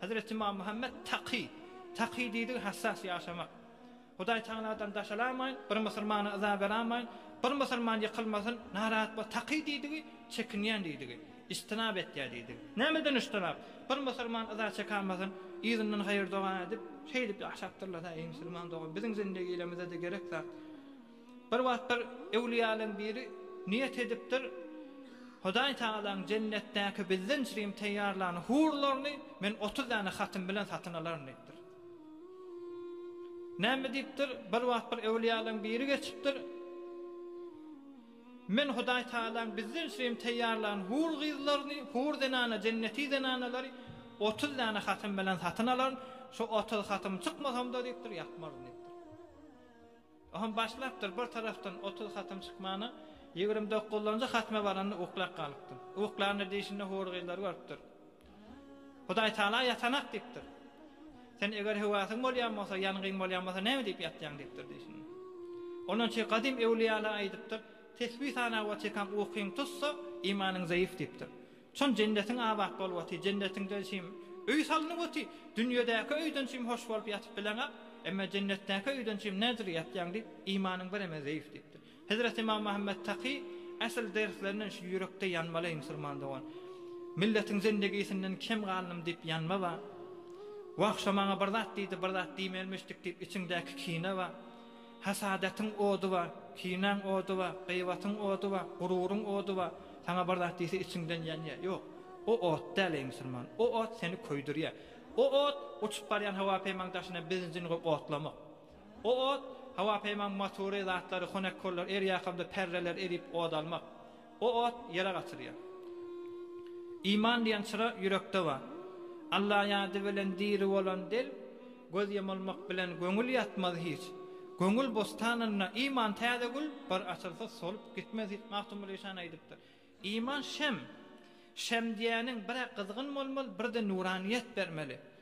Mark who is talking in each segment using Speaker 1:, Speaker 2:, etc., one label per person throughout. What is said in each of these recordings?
Speaker 1: Hezreti Ymam Muhammet Taky, Taky diýdigi hassas ýaşamak. Hudaý Tagaladan daşalamaýyn, bir musulmana yza beramaýyn, bir musulman ýykylmasyn, narahat bol. Taky diýdigi çekinýän diýdigi, ijtinap etýär diýdigi. Nämeden ijtinap? Bir musulman yza çekalmasyn, yzyndan haýyr-doga edip, şeýdip ýaşapdyrlar-a, eý musulman dogan, biziň zindigilemizede gerek zat. Bir wagtlar öwlüýäleň biri niýet edipdir, Hudaý Tagalaň jennetdäki bizden çrim teýýarlan hurlaryny men otuz däne hatyn bilen satyn alaryn diýipdir. Näme diýipdir? Bir wagt bir öwlüýäleň biri geçipdir. Men Hudaý Tagalaň bizden üçin teýýarlan hur gyzlaryny, hur zenana, jenneti zenanalary 30 dana hatym bilen satyn alaryn. Şu 30 hatym çykmasam-da diýipdir, ýatmaryn diýipdir. Oham başlapdyr, bir tarapdan otuz hatym çykmana, ýigrimi dokuzynjy hatma baranda uklap galypdyr. Uklanda diýşinde hur gyzlary görüpdir. Hudaý tala ýatanak diýipdir. Sen eger höwäsiň bolýan bolsa, ýangyň bolýan bolsa näme diýip ýatýaň diýipdir diýşinde. Ondan çe gadym öwlüýalar aýdypdyr, tesbi sanap otyrkaň ukyň tutsa, imanyň zaýyf diýipdir. Soň jennetiň abat bolup otyr. Jennetiňde çim öý salnyp otyr. Dünýedäki öýden çim hoş bolup ýatyp bileňok. Emma jennetdäki öýden çim nädür ýatýaň diýip, imanyň biremez zeýf diýipdir. Hezreti Ymam Muhammet Taky Asl derslerinden şu ýürekde ýanmaly eý musulman dogan. Milletiň zindigisinden kem galdym diýip ýanma ba. Wah şo maňa bir zat diýdi, bir zat diýmelmişdik diýip içiňdäki kine ba. Hasadetyň ody ba, kinäň ody ba, gyýbatyň ody ba, gururyň ody ba, saňa bir zat diýse içiňden ýanýa. Ýok, o ot däl, eý musulman, o ot seni köýdürýä. O ot, uçup barýan hawa peýmaň daşyna benzin goýup otlamak. O ot, hawa peýmaň motory, zatlary, honekkollary, erýakamda perreleri erip od almak. O ot ýere gaçyrýar. Iman diýen çyra ýürekde bar. Alla ýady bilen diri bolan dil, göz ýamylmak bilen göňül ýatmaz hiç. Göňül bostanynda iman täze gül, bir açylsa solup gitmez hiç. Magtymguly-şan aýdypdyr. Iman şem. Şem diýýäniň bir-ä gyzgyn bolmaly, bir-de nuranyýet bermeli.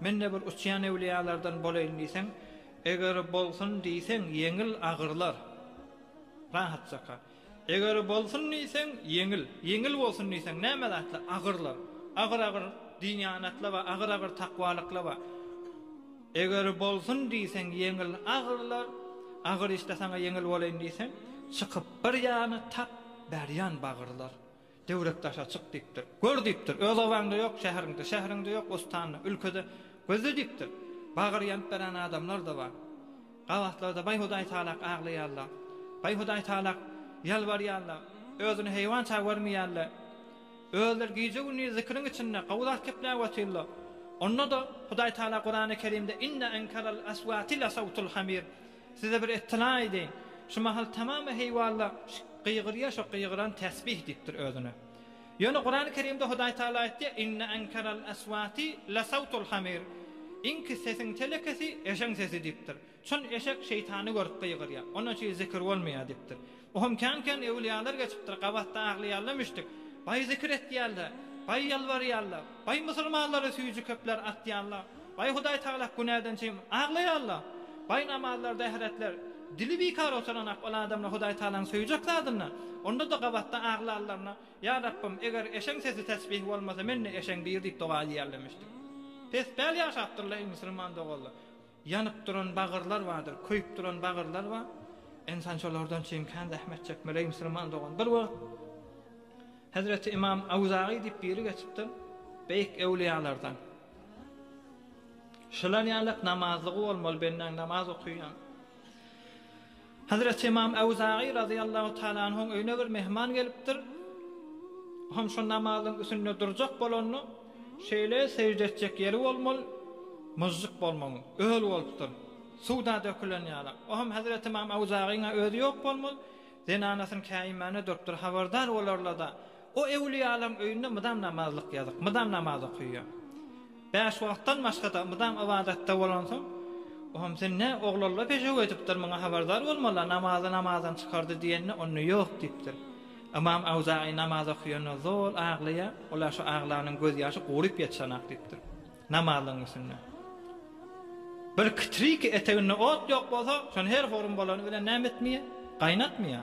Speaker 1: Men-de bir uçýan öwliýalardan bolaýyn diýseň, eger bolsun diýseň, ýeňil agyrlar. Rahatjaka. Eger bolsun diýseň, ýeňil. Ýeňil bolsun diýseň, näme zatlar? Agyrlar. Agyr-agyr dynýanatla we agyr-agyr takwalykla we Eger bolsun diýseň, ýeňil agyrlar. Agyr işde saňa ýeňil bolaýyn diýseň, çykyp bir ýana tap berýän bagyrlar. Döwlet daşa çyk diýipdir. Gör diýipdir, öz obaňda ýok, şäheriňde, şäheriňde ýok, ostanda, ülkede gözle diýipdir. Bagyr ýanyp beren adamlar-da bar. Gabatlarda baý Hudaý talak aglaýarlar. Baý Hudaý talak ýalbarýarlar. Özüni heýwança görmeýärler. Özleri gije-gündiz zikriň içinde gowy zat gepläp otyrlar. Onda-da Hudaý tala Kurany Kerimde Inne enkerel eswati lesawtul hamir. Size bir ettila edeýin. Şu mahal tamamy heýwalla gygyrýar, şo gygyran tesbih diýipdir özüne. Ýöne Kurany Kerimde Hudaý Tagala aýtýar, Inne enkeral eswati lesawtul hamir, Iňki sesiň telekesi eşeň sesi diýipdir. Çyn eşek şeýtany görüp gygyrýar. Onuň üçin zikir bolmaýar diýipdir. Bu hem kän-kän öwlüýalar geçipdir, gabatda aglaýarlar müşdik, baý zikir etýärler, baý ýalbarýarlar, baý musulmanlara süýji köpler atýarlar, baý Hudaý Tagala günäden çyn aglaýarlar, baý namazlarda ähretler, dili bikar oturanak ol adamlar Hudaý Tagalaň söýjek zadynda, onda-da gabatda aglanlaryna, Ýa Rabbym, eger eşeň sesi tesbih bolmasa, men-de eşeň bir diýip doga edýärler müşdik. Pespel ýaşapdyrlar, eý musulman doganlar! Ýanyp duran bagyrlar bardyr, köýüp duran bagyrlar bar. Ynsan şolardan çyn kän zähmet çekmeli, eý musulman dogan. Bir wagt Hezreti Ymam Awzaýy diýip biri geçipdir, beýik öwliýalardan. Şular ýalak namazlygy bolmaly, bendäň namaz okaýan. Hezreti Ymam Awzaýy razyýallahu taala anhuň öýüne bir myhman gelipdir. O hem şo namazyň üsünde durjak bolanda, şeýle sežde etjek ýeri bolmaly, myžžyk bolmaly, öl bolupdyr, suw-da dökülen ýaly. O hem hezreti Ymam Awzaýyň-a özi ýok bolmaly, zenanasyny käýinmäne durupdyr, habardar bolarla-da, O öwlüýalaň öýünde mydam namazlyk ýazyk, mydam namaz okyýa. Bäş wagtdan başga-da mydam ybadatda bolansoň, Ohm, sen nä, oglalla pejew edipdir, muňa habardar bolmala, namazy namazdan çykardy diýende, onda ýok diýipdir. Ymam Awzaýy namaz okyanda zol aglaýar, ol-a şu aglanyň gözýaşy guryp ýetişenak diýipdir. Namazlygyň üstünde. Bir kitriki eteginde ot ýok bolsa, şony her horun bolany bilen näme etmeýä? Gaýnatmaýa.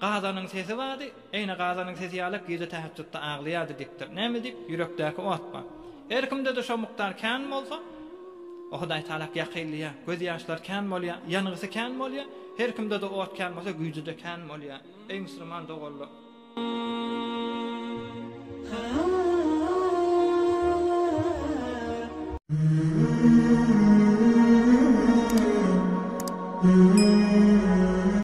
Speaker 1: Gazanyň sesi bardy, eýne gazanyň sesi ýalak gije täheçjutda aglaýardy dikdir. Näme diýip, ýürekdäki ot bar. Her kimde-de şo mukdar kän bolsa, o Hudaý Tagalak ýakylýar, göz ýaşlary kän bolýar, ýangysy kän bolýar, her kimde-de ot kän bolsa güýji-de kän bolýar. Eý musulman doganlar!